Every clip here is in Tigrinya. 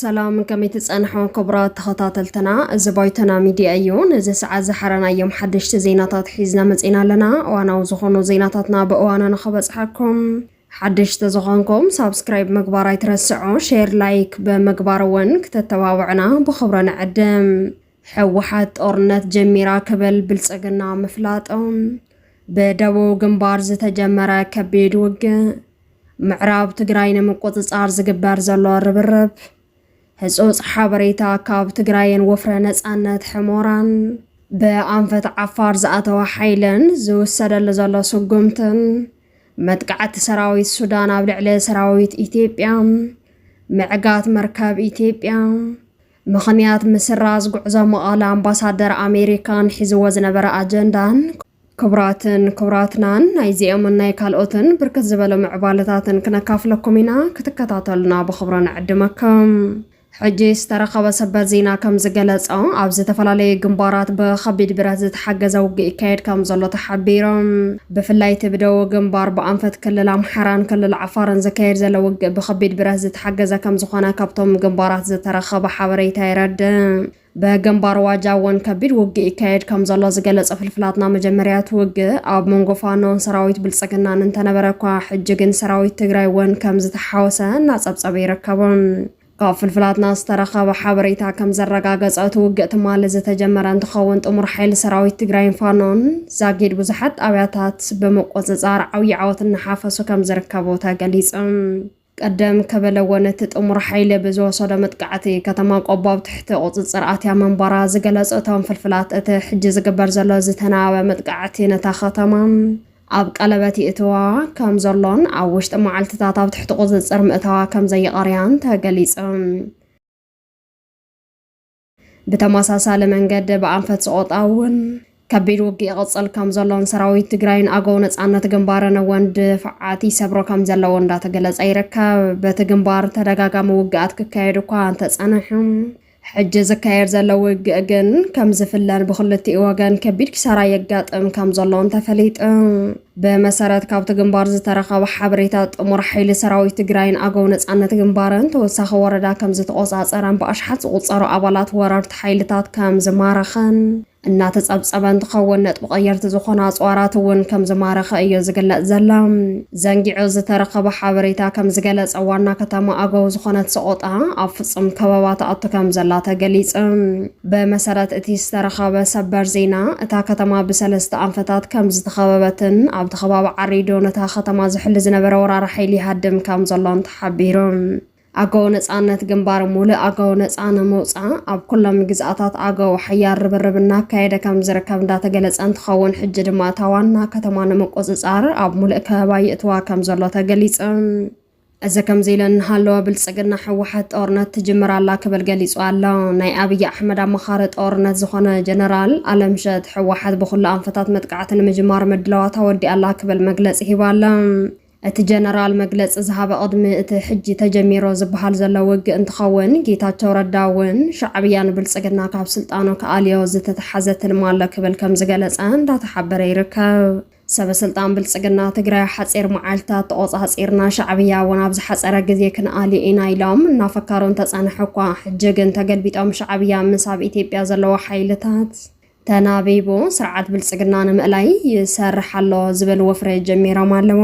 ሰላም ከመይ ትጸንሑ ክቡራት ተኸታተልትና፣ እዚ ባይቶና ሚድያ እዩ። ነዚ ሰዓት ዝሓረናዮም ሓደሽቲ ዜናታት ሒዝና መጺና ኣለና። እዋናዊ ዝኾኑ ዜናታትና ብእዋኑ ንኸበጽሓኩም ሓድሽ ተዝኾንኩም ሳብስክራይብ ምግባር ኣይትረስዑ ሼር ላይክ ብምግባር እውን ክተተባብዑና ብኽብረ ንዕድም። ሕወሓት ጦርነት ጀሚራ ክብል ብልፅግና ምፍላጡ። ብደቡብ ግንባር ዝተጀመረ ከቢድ ውግእ። ምዕራብ ትግራይ ንምቁፅፃር ዝግበር ዘሎ ርብርብ። ህፁፅ ሓበሬታ ካብ ትግራይን ወፍረ ነፃነት ሕሞራን። ብኣንፈት ዓፋር ዝኣተወ ሓይልን ዝውሰደሉ ዘሎ ስጉምትን። መጥቃዕቲ ሰራዊት ሱዳን ኣብ ልዕሊ ሰራዊት ኢትዮጵያ፣ ምዕጋት መርከብ ኢትዮጵያ፣ ምኽንያት ምስራዝ ጉዕዞ መቐለ ኣምባሳደር ኣሜሪካን ሒዝዎ ዝነበረ ኣጀንዳን ክቡራትን ክቡራትናን ናይዚኦምን ናይ ካልኦትን ብርክት ዝበሉ ምዕባለታትን ክነካፍለኩም ኢና ክትከታተሉና ብኽብሮ ንዕድመኩም ሕጂ ዝተረኸበ ሰበር ዜና ከም ዝገለጾ ኣብ ዝተፈላለዩ ግንባራት ብኸቢድ ብረት ዝተሓገዘ ውግእ ይካየድ ከም ዘሎ ተሓቢሩ። ብፍላይ እቲ ብደቡብ ግንባር ብኣንፈት ክልል ኣምሓራን ክልል ዓፋርን ዝካየድ ዘሎ ውግእ ብኸቢድ ብረት ዝተሓገዘ ከም ዝኾነ ካብቶም ግንባራት ዝተረኸበ ሓበሬታ የረድእ። ብግንባር ዋጃ እውን ከቢድ ውግእ ይካየድ ከም ዘሎ ዝገለጸ ፍልፍላትና መጀመርያ እቲ ውግእ ኣብ መንጎ ፋኖን ሰራዊት ብልጽግናን እንተነበረ እኳ ሕጂ ግን ሰራዊት ትግራይ እውን ከም ዝተሓወሰ እናጸብጸበ ይርከቡ። ካብ ፍልፍላትና ዝተረኸበ ሓበሬታ ከም ዘረጋገጸ እቲ ውግእ ትማሊ ዝተጀመረ እንትኸውን ጥሙር ሓይሊ ሰራዊት ትግራይን ፋኖን ዛጊድ ብዙሓት ጣብያታት ብምቁጽጻር ዓብዪ ዓወት እናሓፈሱ ከም ዝርከቡ ተገሊጹ። ቅድም ክብል'ውን እቲ ጥሙር ሓይሊ ብዝወሰዶ መጥቃዕቲ ከተማ ቆቦ ኣብ ትሕቲ ቁፅፅር ኣትያ ምንባራ ዝገለፁ እቶም ፍልፍላት እቲ ሕጂ ዝግበር ዘሎ ዝተናበበ መጥቃዕቲ ነታ ከተማ ኣብ ቀለበት ይእትዋ ከም ዘሎን ኣብ ውሽጢ መዓልትታት ኣብ ትሕቲ ቁፅፅር ምእታዋ ከም ዘይቐርያን ተገሊፁ። ብተመሳሳሊ መንገዲ ብኣንፈት ሰቆጣ እውን ከቢድ ውግእ ይቕፅል ከም ዘሎን ሰራዊት ትግራይን ኣገው ነፃነት ግንባርን እውን ድፍዓት ይሰብሮ ከም ዘለዎ እንዳተገለፀ ይርከብ። በቲ ግንባር ተደጋጋሚ ውግኣት ክካየድ እኳ እንተፀንሐ ሕጂ ዝካየድ ዘሎ ውግእ ግን ከም ዝፍለን ብክልቲኡ ወገን ከቢድ ኪሳራ የጋጥም ከም ዘሎን ተፈሊጡ። ብመሰረት ካብቲ ግንባር ዝተረኸበ ሓበሬታ ጥሙር ሓይሊ ሰራዊት ትግራይን ኣገው ነፃነት ግንባርን ተወሳኺ ወረዳ ከምዝተቖፃፀረን ብኣሽሓት ዝቑፀሩ ኣባላት ወረርቲ ሓይልታት ከምዝማረኸን እናተፀብፀበ እንትኸውን ነጥቢ ቀየርቲ ዝኾኑ ኣፅዋራት እውን ከምዝማረኸ እዮ ዝግለፅ ዘላ። ዘንጊዑ ዝተረኸበ ሓበሬታ ከምዝገለፀ ዋና ከተማ ኣገው ዝኾነት ሰቖጣ ኣብ ፍፁም ከበባ ትኣቱ ከምዘላ ተገሊፁ። ብመሰረት እቲ ዝተረኸበ ሰበር ዜና፣ እታ ከተማ ብሰለስተ ኣንፈታት ከም ዝተኸበበትን ኣብቲ ከባቢ ዓሪዱ ነታ ከተማ ዝሕሉ ዝነበረ ወራሪ ሓይሊ ይሃድም ከም ዘሎን ተሓቢሩ። ኣገው ነጻነት ግንባር ሙሉእ ኣገው ነጻ ንምውጻእ ኣብ ኩሎም ግዝኣታት ኣገው ሓያል ርብርብ እናካየደ ከም ዝርከብ እንዳተገለጸ እንትኸውን ሕጂ ድማ እታ ዋና ከተማ ንምቁጽጻር ኣብ ሙሉእ ከበባ ይእትዋ ከም ዘሎ ተገሊጹ። እዚ ከምዚ ኢለን እናሃለወ ብልፅግና ህወሓት ጦርነት ትጅምር ኣላ ክብል ገሊፁ ኣሎ። ናይ ኣብይ ኣሕመድ ኣማኻሪ ጦርነት ዝኾነ ጀነራል ኣለምሸት ህወሓት ብኹሉ ኣንፈታት መጥቃዕቲ ንምጅማር ምድላዋት ኣወዲኣ ኣላ ክብል መግለፂ ሂቡ ኣሎ። እቲ ጀነራል መግለፂ ዝሃበ ቅድሚ እቲ ሕጂ ተጀሚሩ ዝበሃል ዘሎ ውግእ እንትኸውን ጌታቸው ረዳ እውን ሻዕብያ ንብልፅግና ካብ ስልጣኑ ክኣልዮ ዝተተሓዘ ትልሚ ኣሎ ክብል ከምዝገለፀ እንዳተሓበረ ይርከብ። ሰበስልጣን ብልፅግና ትግራይ ሓፂር መዓልትታት ተቖፃፂርና ሻዕብያ እውን ኣብ ዝሓፀረ ግዜ ክንኣልዮ ኢና ኢሎም እናፈከሩ እንተፀንሑ እኳ ሕጂ ግን ተገልቢጦም ሻዕብያ ምስ ኣብ ኢትዮጵያ ዘለዎ ሓይልታት ተናቢቡ ስርዓት ብልፅግና ንምእላይ ይሰርሕ ኣሎ ዝብል ወፍሪ ጀሚሮም ኣለዎ።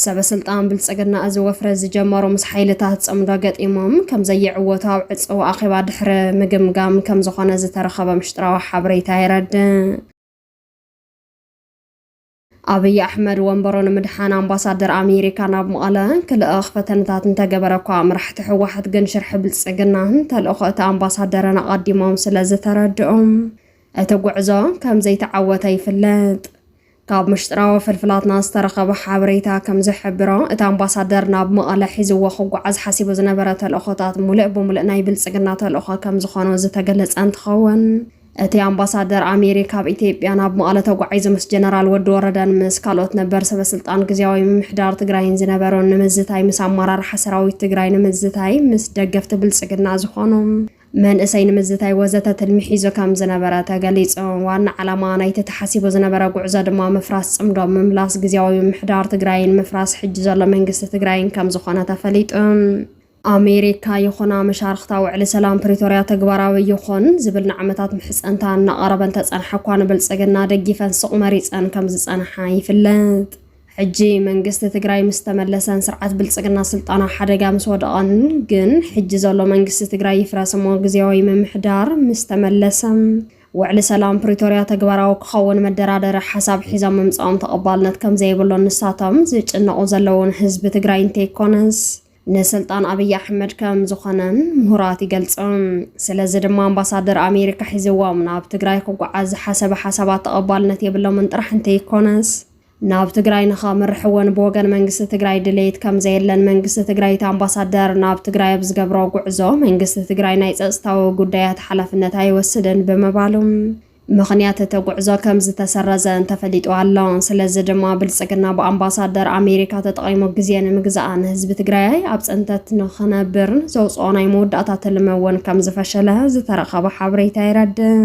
ሰበስልጣን ብልፅግና እዚ ወፍሪ ዝጀመሩ ምስ ሓይልታት ፅምዶ ገጢሞም ከምዘይዕወቱ ኣብ ዕፅው ኣኼባ ድሕሪ ምግምጋም ከምዝኾነ ዝተረኸበ ምሽጥራዊ ሓበሬታ የረድእ። ኣብይ ኣሕመድ ወንበሮ ንምድሓን ኣምባሳደር ኣሜሪካ ናብ መቐለ ክልእኽ ፈተነታት እንተገበረ እኳ መራሕቲ ህወሓት ግን ሽርሒ ብልፅግናን ተልእኾ እቲ ኣምባሳደርን ኣቐዲሞም ስለ ዝተረድኦም እቲ ጉዕዞ ከም ዘይተዓወተ ይፍለጥ። ካብ ምሽጥራዊ ፍልፍላትና ዝተረኸበ ሓበሬታ ከም ዝሕብሮ እቲ ኣምባሳደር ናብ መቐለ ሒዝዎ ክጓዓዝ ሓሲቡ ዝነበረ ተልእኾታት ሙሉእ ብሙሉእ ናይ ብልፅግና ተልእኾ ከም ዝኾኑ ዝተገለፀ እንትኸውን እቲ ኣምባሳደር ኣሜሪካ ኣብ ኢትዮጵያ ናብ መቐለ ተጓዒዙ ምስ ጀነራል ወዲ ወረደን ምስ ካልኦት ነበር ሰበስልጣን ግዝያዊ ምምሕዳር ትግራይን ዝነበሮን ንምዝታይ ምስ ኣመራርሓ ሰራዊት ትግራይ ንምዝታይ ምስ ደገፍቲ ብልፅግና ዝኾኑ መንእሰይ ንምዝታይ ወዘተ ትልሚ ሒዙ ከም ዝነበረ ተገሊፁ። ዋና ዓላማ ናይቲ ተሓሲቡ ዝነበረ ጉዕዞ ድማ ምፍራስ ፅምዶ፣ ምምላስ ግዝያዊ ምምሕዳር ትግራይን ምፍራስ ሕጂ ዘሎ መንግስቲ ትግራይን ከም ዝኾነ ተፈሊጡ። ኣሜሪካ ይኹና መሻርኽታ ውዕሊ ሰላም ፕሪቶርያ ተግባራዊ ይኹን ዝብል ንዓመታት ምሕፀንታ እናቐረበ እንተፀንሐ እኳ ንብልፅግና ደጊፈን ሱቕ መሪፀን ከምዝፀንሓ ይፍለጥ። ሕጂ መንግስቲ ትግራይ ምስ ተመለሰን ስርዓት ብልፅግና ስልጣኑ ኣብ ሓደጋ ምስ ወደቐን ግን ሕጂ ዘሎ መንግስቲ ትግራይ ይፍረስ እሞ ግዝያዊ ምምሕዳር ምስ ተመለሰ ውዕሊ ሰላም ፕሪቶርያ ተግባራዊ ክኸውን መደራደሪ ሓሳብ ሒዞም ምምፃኦም ተቐባልነት ከምዘይብሉን ንሳቶም ዝጭነቑ ዘለዉን ህዝቢ ትግራይ እንተይኮነስ ንስልጣን ኣብይ ኣሕመድ ከም ዝኾነን ምሁራት ይገልጹ። ስለዚ ድማ ኣምባሳደር ኣሜሪካ ሒዝዎም ናብ ትግራይ ክጓዓዝ ዝሓሰበ ሓሳባት ተቐባልነት የብሎምን ጥራሕ እንተይኮነስ ናብ ትግራይ ንኸምርሕ እውን ብወገን መንግስቲ ትግራይ ድሌት ከም ዘየለን መንግስቲ ትግራይ እቲ ኣምባሳደር ናብ ትግራይ ኣብ ዝገብሮ ጉዕዞ መንግስቲ ትግራይ ናይ ፀፅታዊ ጉዳያት ሓላፍነት ኣይወስድን ብምባሉ ምኽንያት እቲ ጉዕዞ ከምዝተሰረዘ እንተፈሊጡ ኣሎ። ስለዚ ድማ ብልፅግና ብኣምባሳደር ኣሜሪካ ተጠቒሙ ግዜ ንምግዛኣ ንህዝቢ ትግራይ ኣብ ፅንተት ንኽነብር ዘውፅኦ ናይ መወዳእታ ትልሚ እውን ከምዝፈሸለ ዝተረኸበ ሓበሬታ የረድእ።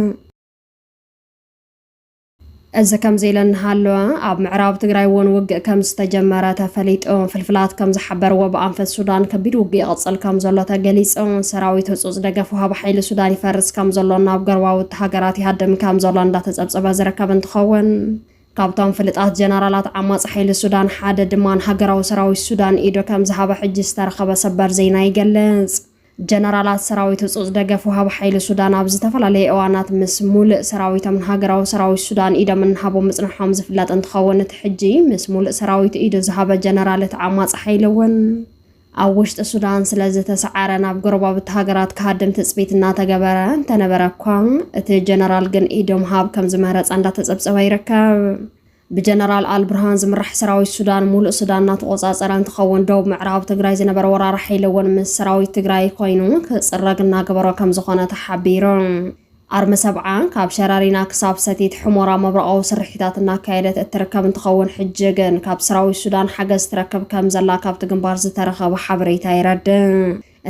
እዚ ከምዚ ኢለ እናሃለወ ኣብ ምዕራብ ትግራይ እውን ውግእ ከምዝተጀመረ ተፈሊጡ። ፍልፍላት ከምዝሓበርዎ ብኣንፈት ሱዳን ከቢድ ውግእ ይቕፅል ከምዘሎ ተገሊፁ። ሰራዊት ህፁፅ ደገፍ ወሃቢ ሓይሊ ሱዳን ይፈርስ ከምዘሎን ናብ ጎረባብቲ ሃገራት ይሃድም ከምዘሎ እንዳተጸብጸበ ዝርከብ እንትኸውን ካብቶም ፍልጣት ጀነራላት ዓማጺ ሓይሊ ሱዳን ሓደ ድማ ንሃገራዊ ሰራዊት ሱዳን ኢዱ ከምዝሃበ ሕጂ ዝተረኸበ ሰበር ዜና ይገልጽ። ጀነራላት ሰራዊት ህጹጽ ደገፍ ወሃቢ ሓይሊ ሱዳን ኣብ ዝተፈላለየ እዋናት ምስ ሙሉእ ሰራዊቶም ንሃገራዊ ሰራዊት ሱዳን ኢዶም እናሃቡ ምጽንሖም ዝፍለጥ እንትኸውን እቲ ሕጂ ምስ ሙሉእ ሰራዊቱ ኢዱ ዝሃበ ጀነራል እቲ ዓማጺ ሓይሊ እውን ኣብ ውሽጢ ሱዳን ስለዝተሰዓረ ናብ ጎረባብቲ ሃገራት ክሃድም ትፅቢት እናተገበረ እንተነበረ እኳ እቲ ጀነራል ግን ኢዶ ምሃብ ከምዝመረፀ እንዳተፀብፀበ ይርከብ። ብጀነራል ኣልብርሃን ዝምራሕ ሰራዊት ሱዳን ሙሉእ ሱዳን እናተቆፃፀረ እንትኸውን ደቡብ ምዕራብ ትግራይ ዝነበረ ወራሪ ሓይሊ እውን ምስ ሰራዊት ትግራይ ኮይኑ ክፅረግ እናገበሮ ከምዝኾነ ተሓቢሩ። ኣርሚ ሰብዓ ካብ ሸረሪና ክሳብ ሰቲት ሑሞራ መብረቓዊ ስርሒታት እናካየደት እትርከብ እንትኸውን ሕጂ ግን ካብ ሰራዊት ሱዳን ሓገዝ ትረክብ ከምዘላ ካብቲ ግንባር ዝተረኸበ ሓበሬታ የረድእ።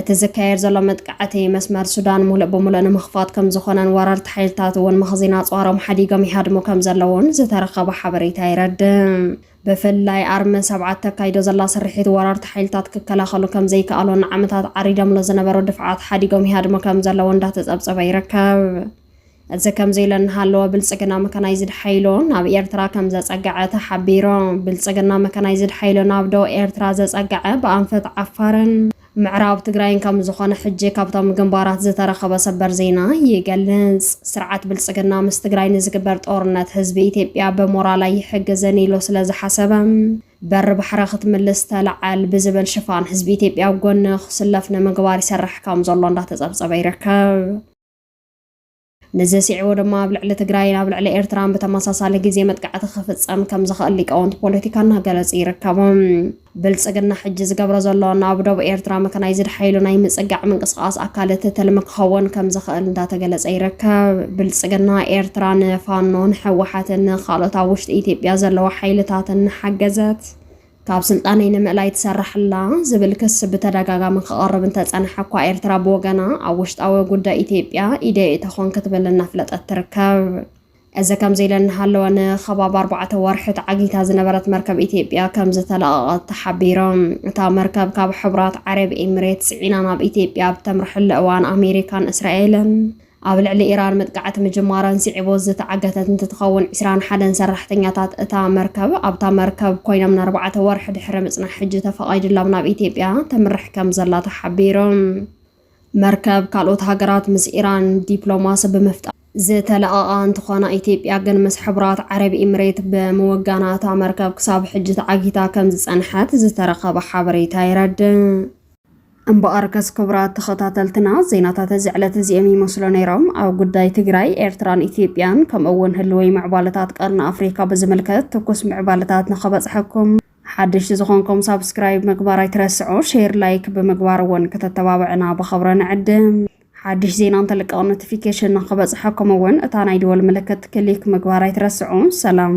እቲ ዝካየድ ዘሎ መጥቃዕቲ መስመር ሱዳን ሙሉእ ብሙሉእ ንምኽፋት ከምዝኾነን ወረርቲ ሓይልታት እውን መኽዚን ኣፅዋሮም ሓዲጎም ይሃድሙ ከምዘለዉን ዝተረኸበ ሓበሬታ የረድእ። ብፍላይ ኣርመ ሰብዓ እተካይዶ ዘላ ስርሒት ወረርቲ ሓይልታት ክከላኸሉ ከም ዘይከኣሉ ንዓመታት ዓሪዶምሉ ዝነበሩ ድፍዓት ሓዲጎም ይሃድሙ ከም ዘለዉ እንዳተጸብጸበ ይርከብ። እዚ ከምዚ ኢለ እናሃለወ ብልጽግና መካናይዝድ ሓይሉ ናብ ኤርትራ ከም ዘጸገዐ ተሓቢሩ። ብልጽግና መካናይዝድ ሓይሉ ናብ ዶብ ኤርትራ ዘጸገዐ ብኣንፈት ዓፋርን ምዕራብ ትግራይን ከምዝኾነ ሕጂ ካብቶም ግንባራት ዝተረኸበ ሰበር ዜና ይገልጽ። ስርዓት ብልጽግና ምስ ትግራይ ንዝግበር ጦርነት ህዝቢ ኢትዮጵያ ብሞራል ኣይሕግዝን ኢሉ ስለዝሓሰበ በሪ ባሕረ ክትምልስ ተላዓል ብዝብል ሽፋን ህዝቢ ኢትዮጵያ ኣብ ጎኒ ክስለፍ ንምግባር ይሰርሕ ከምዘሎ እንዳተጸብጸበ ይርከብ። ንዚ ስዒቡ ድማ ኣብ ልዕሊ ትግራይን ኣብ ልዕሊ ኤርትራን ብተመሳሳሊ ግዜ መጥቃዕቲ ክፍጸም ከም ዝኽእል ሊቃውንቲ ፖለቲካ እናገለጹ ይርከቡ። ብልጽግና ሕጂ ዝገብሮ ዘሎ ናብ ዶብ ኤርትራ መካናይዝድ ሓይሉ ናይ ምጽጋዕ ምንቅስቓስ ኣካል እቲ ትልሚ ክኸውን ከም ዝኽእል እንዳተገለጸ ይርከብ። ብልጽግና ኤርትራ ንፋኖን ህወሓትን ንካልኦት ኣብ ውሽጢ ኢትዮጵያ ዘለዋ ሓይልታትን እናሓገዘት ካብ ስልጣነይ ንምእላይ ትሰርሕ'ላ ዝብል ክሲ ብተደጋጋሚ ክቐርብ እንተጸንሐ እኳ ኤርትራ ብወገና ኣብ ውሽጣዊ ጉዳይ ኢትዮጵያ ኢደይ እተኾን ክትብል እናፍለጠት ትርከብ። እዚ ከምዚ ኢለ እናሃለወ ንኸባቢ ኣርባዕተ ወርሒ ተዓጊታ ዝነበረት መርከብ ኢትዮጵያ ከም ዝተለቐቐት ተሓቢሩ። እታ መርከብ ካብ ሕቡራት ዓረብ ኤሚሬት ጽዒና ናብ ኢትዮጵያ ኣብ ተምርሐሉ እዋን ኣሜሪካን እስራኤልን ኣብ ልዕሊ ኢራን መጥቃዕቲ ምጅማረን ስዒቡ ዝተዓገተት እንትትኸውን፣ ዕስራን ሓደን ሰራሕተኛታት እታ መርከብ ኣብታ መርከብ ኮይኖም ንኣርባዕተ ወርሒ ድሕሪ ምጽናሕ ሕጂ ተፈቓይድሎም ናብ ኢትዮጵያ ተምርሕ ከምዘላ ተሓቢሩ። መርከብ ካልኦት ሃገራት ምስ ኢራን ዲፕሎማሲ ብምፍጣር ዝተለቐቓ እንትኾና፣ ኢትዮጵያ ግን ምስ ሕቡራት ዓረብ ኢምሬት ብምውጋና እታ መርከብ ክሳብ ሕጂ ተዓጊታ ከምዝጸንሐት ዝተረኸበ ሓበሬታ የረድእ። እምበኣርከስ ክቡራት ተኸታተልትና ዜናታት እዚ ዕለት እዚኦም ይመስሉ ነይሮም። ኣብ ጉዳይ ትግራይ፣ ኤርትራን ኢትዮጵያን ከምኡ እውን ህልዊ ምዕባለታት ቀርኒ ኣፍሪካ ብዝምልከት ትኩስ ምዕባለታት ንኸበፅሐኩም ሓደሽቲ ዝኾንኩም ሳብስክራይብ ምግባር ኣይትረስዑ፣ ሼር ላይክ ብምግባር እውን ክተተባብዕና ብኸብረ ንዕድም። ሓድሽ ዜና እንተልቀቕ ኖቲፊኬሽን ንክበፅሐኩም እውን እታ ናይ ደወል ምልክት ክሊክ ምግባር ኣይትረስዑ። ሰላም